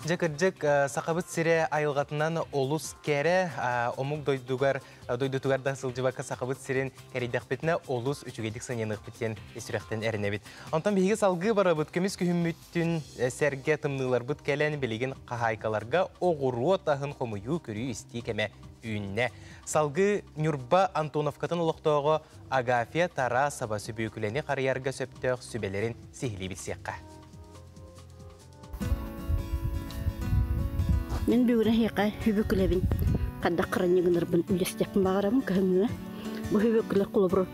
Дьэ кырдьык Сахабыт сирэ айылҕатынан олус кэрэ, омук дойдугар дойдутугар да сылдьыбакка Сахабыт сирин кэрийдэхпитинэ олус үчүгэйдик сананыахпыт диэн сүрэхтэн эрэнэбит. Онтон биһиги салгыы барабыт көмүс күһүммүт Күн сэргэ тымныыларбыт кэлэн билигин хаһаайкаларга оҕуруот аһын хомуйуу көрүү-истии кэмэ үүннэ. Салгыы Ньурба Антоновкатын олохтооҕо Агафья Тарасова сүбүөкүлэни харыйарга сөптөөх сүбэлэрин сиһилии билсиэххэ. Мин бүгүнэһиэхэ хүбүкүлэбин хаддак кыранньыгынарбын үлэстиэхпин баҕарабын көһүҥҥүө. Бу хүбүкүлэр кулобру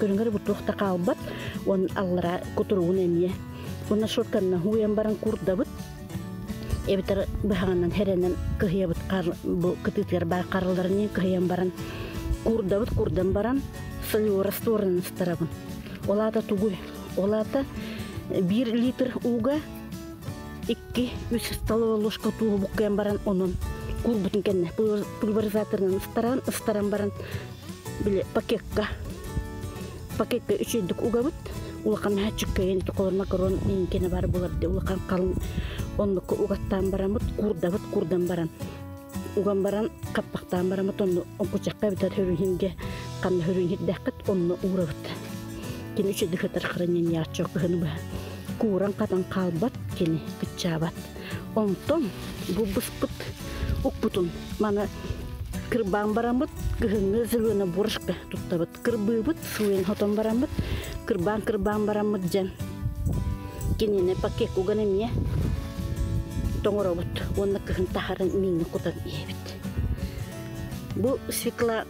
көрүнгэр бутуохта хаалбат уон аллара кутуругун эмиэ уонна шортанна уйан баран курдабыт эбитэр быһаҕынан херенен кыһыйабыт бу кытыытыгар баар харыларыны кыһыйан баран курдабыт курдан баран сойуора ресторан ыстарабын олаата тугуй олаата бир литр уга икки үс столовая ложка туоһу буккыйан баран онон курбутун кэнне пульверизаторынан ыстаран ыстаран баран били пакекка пакетка үчүгэйдик угабыт улахан мачыккайын толор макарон кene бар булар де улахан халын оннук угаттаан барамыт курдабыт курдан баран уган баран хаппахтаан барамыт онну онкучакка битат хөрүһинге ханна хөрүһинирдэхкит онну уурабыт кини үчү дыхытар хранение аччык кыһыны быһа кууран хатан хаалбат кини кыччаабат Онтон булбуспут укпутун маны кырбаан бараммыт кыһыҥҥы зелена бурышка туттабыт кырбыыбыт сылын хотон бараммыт кырбаан кырбаан бараммыт дьэн кинини пакет уган эмиэ тоҥоробут уонна кыһын таһарын мииҥҥэ кутан иһэбит бу свекла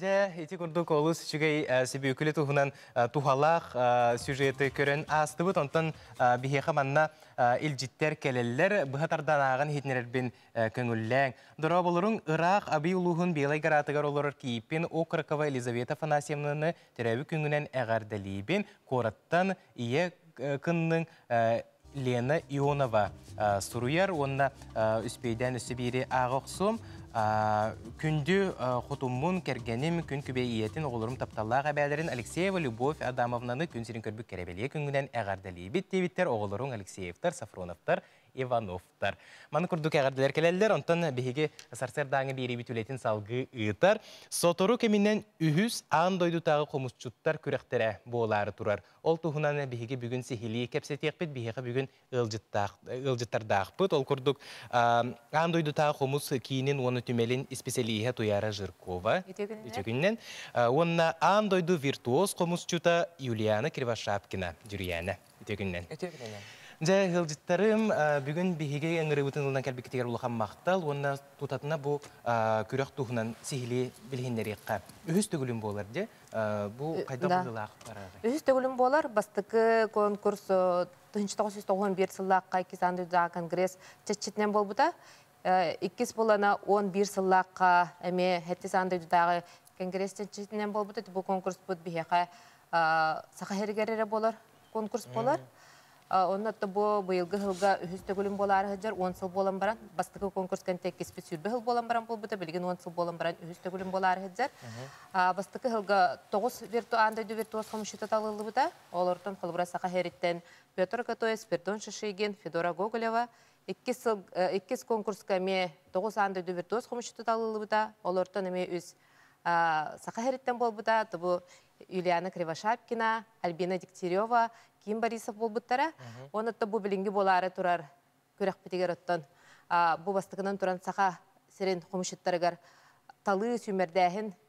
Дьэ, ити курдук олус үчүгэй э, сибиокуле туһунан э, туһалаах э, сюжеты көрөн аастыбыт. Онтон биһиэхэ манна илдьиттэр кэлэллэр. Быһа тардан ааҕан иһитиннэрэрбин көҥүллээҥ. Дорооболоруҥ ыраах Абый улууһун Белай гараатыгар олорор Кииппин окрокова Елизавета Афанасьевнаны төрөөбүт күҥҥүнэн эҕэрдэлиибин. Куораттан ийэ кынныҥ Лена Ионова суруйар уонна үспүйдээн өссө биири ааҕа охсуом. Күндү хотуммун, кэргэним, күн күбэй ийэтин, оҕолорум тапталлаах эбээлэрин Алексеева Любовь Адамовнаны күн сирин көрбүт кэрэбэлиэ күнгүнэн эҕэрдэлиибит диэбиттэр оҕолоруҥ Алексеевтар, Сафроновтар, Иванов. Аттар. Маны курдук эҕэрдэлэр кэлэллэр, онтон биһиги сарсыардааҥы биэриибит үлэтин салгыы ыытар. Сотору кэминэн үһүс аан дойдутааҕы хомусчуттар күрэхтэрэ буолаары турар. Ол туһунан биһиги бүгүн сиһилии кэпсэтиэхпит, биһиэхэ бүгүн ыалдьыттардаахпыт. Ол курдук аан дойдутааҕы хомус киинин уонна түмэлин исписэлииһэ Туяра Жиркова үтүөкүнүнэн уонна аан дойду виртуоз хомусчута Юлиана Кривошапкина дьүрүйээнэ. үтүөкүннэн. Үтүөкүннэн. Дьэ, ыалдьыттарым, бүгүн биһиги ыҥырыыбытын ылынан кэлбиккитигэр улахан махтал уонна тутатына бу күрэх туһунан сиһилии билиһиннэриэххэ. Үһүс төгүлүм буолар дьэ, бу хайдах быһыылаах барарый? Үһүс төгүлүм буолар, бастакы конкурс 1991 сыллаахха Кисанды Конгресс чэрчитинэн буолбута. Иккис былана он биир сыллаахха эмиэ хэттис аан дойдутааҕы конгресс чэрчитинэн буолбут бу конкурспут биһиэхэ саха иһэригэр эрэ буолар конкурс буолар. Онно отто бу быйылгы сылга үһүс төгүлүн буолаары сылдьар он сыл буолан баран бастакы конкурс кэнтиэккиспит сүүрбэ сыл буолан баран буолбута билигин он сыл буолан баран үһүс төгүлүн буолаары сылдьар. Бастакы сылга тоҕус вирту аан дойду виртуоз хомсчута талыллыбыта. Олортон холобура саха иһэриттэн Петр Катоев, Спирдон Шишигин, Федора Гоголева, Иккис сыл, иккис конкурска эмиэ тоҕус аан дойду виртуоз хомусчуту талыллыбыта. Олортон эмиэ үс саха иһэриттэн буолбута. Тобу Юлиана Кривошапкина, Альбина Дегтярева, Ким Борисов буолбуттара. Уонна оттон бу билиҥҥи буолаары турар күрэхпитигэр оттон бу бастакынан туран саха сирин хомусчуттарыгар талыы сүүмэрдээһин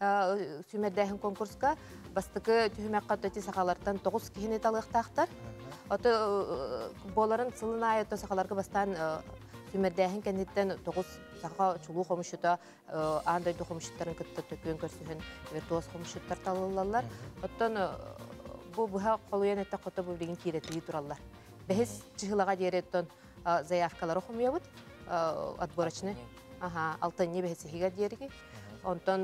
сүүмэрдээһин конкурска бастакы түһүмэххэ отто сахалартан тоҕус киһини талыахтаахтар ото буоларын сылын аайы ото сахаларга бастаан сүүмэрдээһин кэнниттэн тоҕус саха чулуу хомушута аан дойду хомушуттарын кытта төкүөн көрсүһүн виртуоз хомушуттар талыллаллар оттон бу быһа холуйан эттэк хото бу билигин киирэтии тураллар бэһис чыһылаға диэри оттон заявкалары хомуйабыт отборочный алтынньы бэһисиһигэр диэриги онтон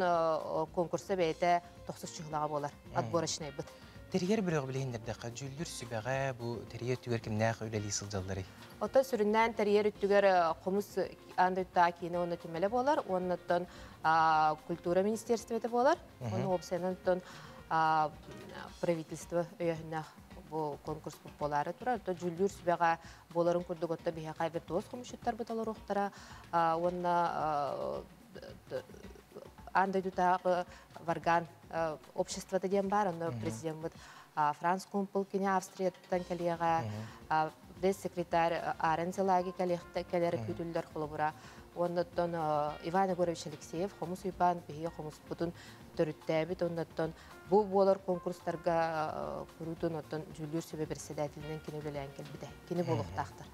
конкурса бэйэтэ тохсус чыһылаҕа буолар отборочнайбыт Тэрийэр бирөҕ билиһиндэрдэххэ, дьүүллүр сүбэҕэ бу тэрийэр үтүгэр кимнээх үлэлии сылдьалларый? Оттон сүрүннээн тэрийэр үтүгэр хомус аан дойдуга киинэ уонна түмэлэ буолар, уоннаттан культура министерствота буолар, оны опсайынан оттон правительство өйөһүннээх бу конкурспут буолаары турар то дьүүллүүр сүбэҕэ буоларын курдук отто биһиэхэ айбыт туос хомусчуттарбыт олоруохтара уонна аан дойдутааҕы варган обществота диэн баар онно президеммыт франц кумпул кини австрияттан кэлиэҕэ вес секретарь аарен зелаги кэлэр күүтүллэр холобура уонна оттон Иван Егорович Алексеев хомус уйбаан биһиги хомуспутун төрүттээбит онноттон бу буолар конкурстарга куруутун оттон дьүүллүүр сүбэ председателинэн кини үлэлээн кэлбитэ кини буолуохтаахтар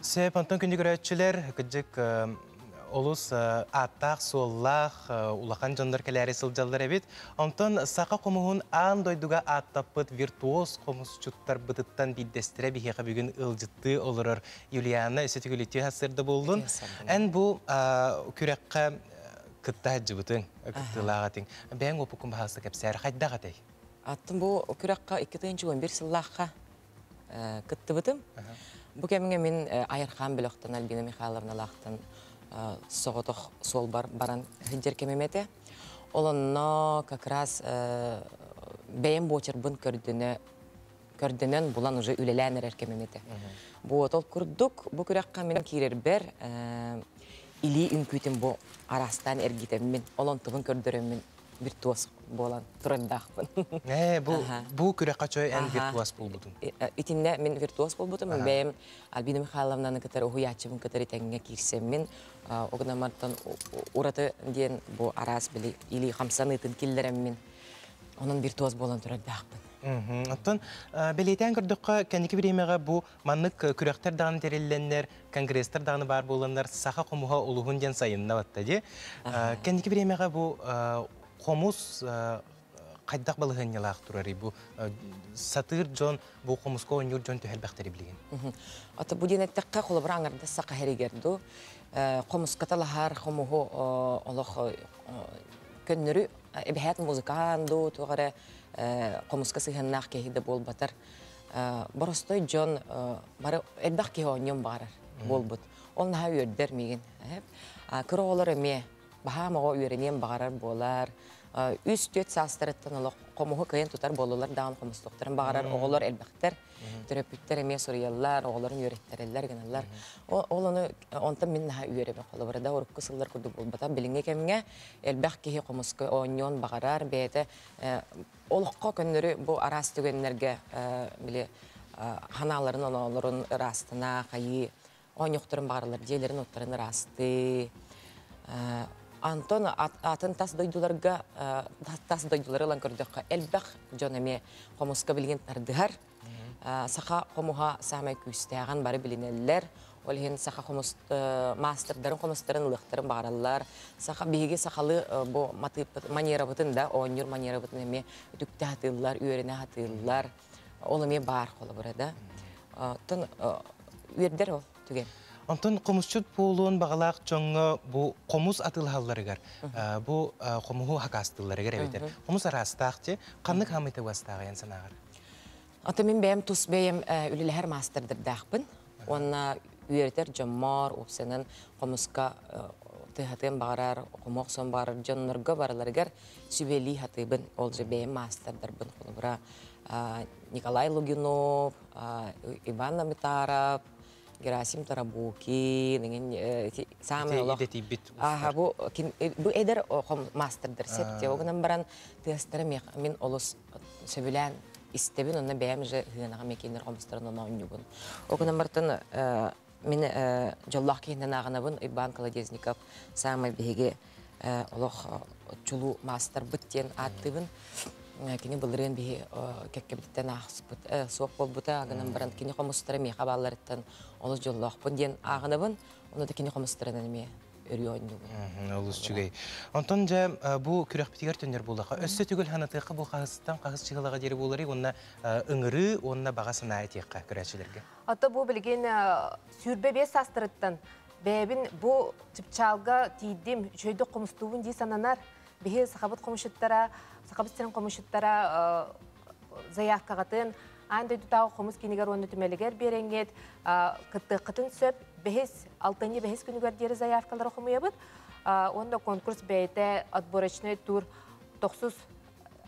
сеп онтон күндү көрөөччүлэр кыддык олус ааттаах суоллаах улахан дьоннор кэлээри сылдьаллар эбит онтон саха хомуһун аан дойдуга ааттаппыт виртуоз хомусчуттарбытыттан биирдэстэрэ биһиэхэ бүгүн ылдьыттыы олорор юлиана өсөтүгүлүтүө сырда буоллун эн бу күрэххэ Кытта сылдьыбытыҥ, ыкыктыылаах этиҥ. Бэйэҥ уопуккун баһаалыста кэпсээр, хайдах этэй? Аттым бу күрэххэ икки тыһыынча уон биир сыллаахха кыттыбытым. Бу кэмҥэ мин айархаан бөлөхтөн Альбина Михайловналаахтан соҕотох суолбар баран сылдьар кэмим этэ. Ол онно как раз бэйэм буочарбын көрдөнө көрдөнөн, булан уже үлэлээн эрэр кэмим этэ. Буотол курдук, бу күрэххэ мин киирэрбэр илии үҥкүүтүн бу араастаан эргитэммин, олонтубун көрдөрөммүн виртуоз буолан турардаахпын. Ээ, бу бу күрэххэ чой эн виртуоз буолбутун. Итиннэ мин виртуоз буолбутум. Бэйэм Альбина Михайловнаны кытары уһуйааччыбын кытары тэҥҥэ киирсэммин, огномартан ураты диэн бу араас били илии хамсаныытын киллэрэммин, онон виртуоз буолан турардаахпын. Мгм. Оттон, э, бэлиэтээн көрдөххө, кэнники бириэмэҕэ бу маннык, э, күрэхтэр даҕаны тэриллэннэр, конгресстар даҕаны баар буоланнар, саха хомуһа улуһун диэн сайыннабатта дии. Э, Аһа. кэнники бириэмэҕэ бу, э, хомус, э, хайдах балаһыанньалаах турарый? Бу, э, сатыыр дьон, бу хомуска оонньуур дьон түһэрбэхтэрий билигин? Мгм. Ата бу диэн эттэххэ, холобура аҥардас саха иһэригэр ду, э, хомуска талаһар хомуһу о олох, э, о көннөрү эбэһэт музыкаан дуу, туох эрэ хомуска сыһыаннаах киһи да буолбатар боростой дьон бары элбэх киһи оонньуон баҕарар буолбут ол наһаа үөрдэр миигин кыра оҕолор эмиэ баһаам оҕо үөрэниэн баҕарар буолар үс-түөрт саастарыттан олох хомуһу кыайан тутар буоллулар даҕаны хомустуохтарын баҕарар оҕолор элбэхтэр төрөппүттэр эмиэ суруйаллар оҕолорун үөрэттэрэллэр гыналлар ол ону онтон мин наһаа үөрэбин холобура да урукку сыллар курдук буолбатах билиҥҥи кэмҥэ элбэх киһи хомуска оонньуон баҕарар бэйэтэ олоххо көннөрү бу араас түгэннэргэ били ханааларын оноолорун ыраастана хайыы оонньуохтарын баҕаралар дьиэлэрин уттарын ыраастыы Антон атын тас дойдуларга тас дойдулары ылан көрдөххө элбэх дьон эмиэ хомуска билигин тардыһар саха хомуһа саамай күүстээҕин бары билинэллэр. Ол иһин саха хомус маастардарын хомустарын ылыахтарын баҕараллар. Саха биһиги сахалыы бу манерабытын да оонньуур манерабытын эмиэ үтүктэ сатыыллар, үөрэнэ сатыыллар. Ол эмиэ баар холобура да. Оттон үөрдэр ол түгэн. Онтон хомусчут буолуон баҕалаах дьоҥҥо бу хомус атыылаһалларыгар, бу хомуһу хакаастыылларыгар эбэтэр хомус араастаах дьи ханнык хаамыыта уостааҕын санааҕар? Ата мин бэйэм тус бэйэм үлэлэһэр маастардырдаахпын уонна үөрэтэр дьоммор, уопсанан хомуска тыаһатыан баҕарар, хому охсон баҕарар дьоннорго барыларыгар сүбэлии сатыыбын. Ол же бэйэм маастардарбын холобура Николай Лугинов, Иван Намитаров, Герасим Тарабукин, саамай олох аха бу бу эдэр маастардар сеп те огынан баран тыастара мин олус сөбүлээн истэбин онно бэйэм уже сыһыанаҕа мекенер обустарын оноонньугун. Ол гынан бартан мин дьоллоох киһинэн ааҕынабын Иван Колодезников саамай биһиги олох чулуу маастарбыт диэн ааттыыбын. Кини былырыын биһи кэккэбититтэн аахспыт суох буолбута гынан баран кини хомустара миэхэ баалларыттан олус дьоллоохпун диэн ааҕынабын. Ону да кини хомустарынан эмиэ өрүү оонньуур. Олус үчүгэй. Онтон дьэ бу күрэхпитигэр төннөр буоллаха өссө түгэл ханатыахха бу хаһыстан хахыс чыһылаҕа диэри буоларый уонна ыҥырыы уонна баҕа санаа этиэххэ көрөөччүлэргэ. Ата бу билигин сүүрбэ биэс саастарыттан бэйэбин бу чыпчаалга тиийдим, үчүгэйдик хомустуубун дии сананар. Биһи сахабыт хомушуттара, сахабыт сирин хомушуттара заявкаҕытын Аан дойдутааҕы хомус киинигэр уонна түмэлигэр биэрэҥҥит кыттыаххытын сөп. Бэһис, алтынньы бэһис күнүгэр диэри заявкалары хомуйабыт. Уонна конкурс бэйэтэ отборочный тур тохсус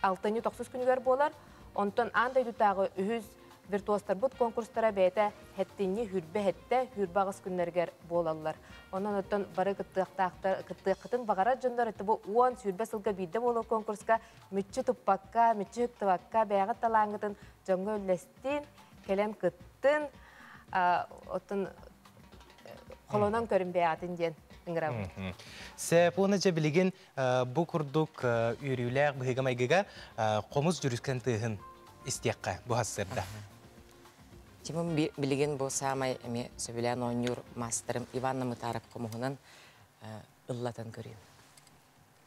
алтынньы тохсус күнүгэр буолар. Онтон аан дойдутааҕы үһүс виртуозтарбыт конкурстара бэйэтэ хэттинньи хүрбэ хэттэ хүрбэ аҕыс күннэригэр буолаллар. Онон оттон бары кыттыахтаахтар кыттыаххытын баҕарар дьоннор бу уон сүүрбэ сылга биирдэ буолар конкурска мүччү туппакка, мүччү ыктыбакка бэйэҕит талааҥҥытын дьоҥҥо үллэстин, кэлэн кыттын, оттон холонон көрүн бэйэҕитин диэн ыҥырабыт. Сепуна дьэ билигин бу курдук үөрүүлээх быһыыга-майгыга хомус дьүрүскэн тыаһын истиэххэ буһассыырда. Чимим билигин бу саамай эмиэ сөбүлээн оонньуур маастарым Иван Намытаарап хомуһунан ыллатан көрүөм.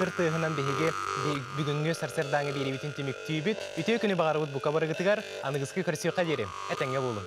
Кыр тыаһынан биһиги бүгүҥҥү сарсыардааҥы биэриибитин түмүктүүбүт. Үтүө күнү баҕарабыт бука барыгытыгар, аныгыскы көрсүөххэ диэри этэҥҥэ буолуҥ.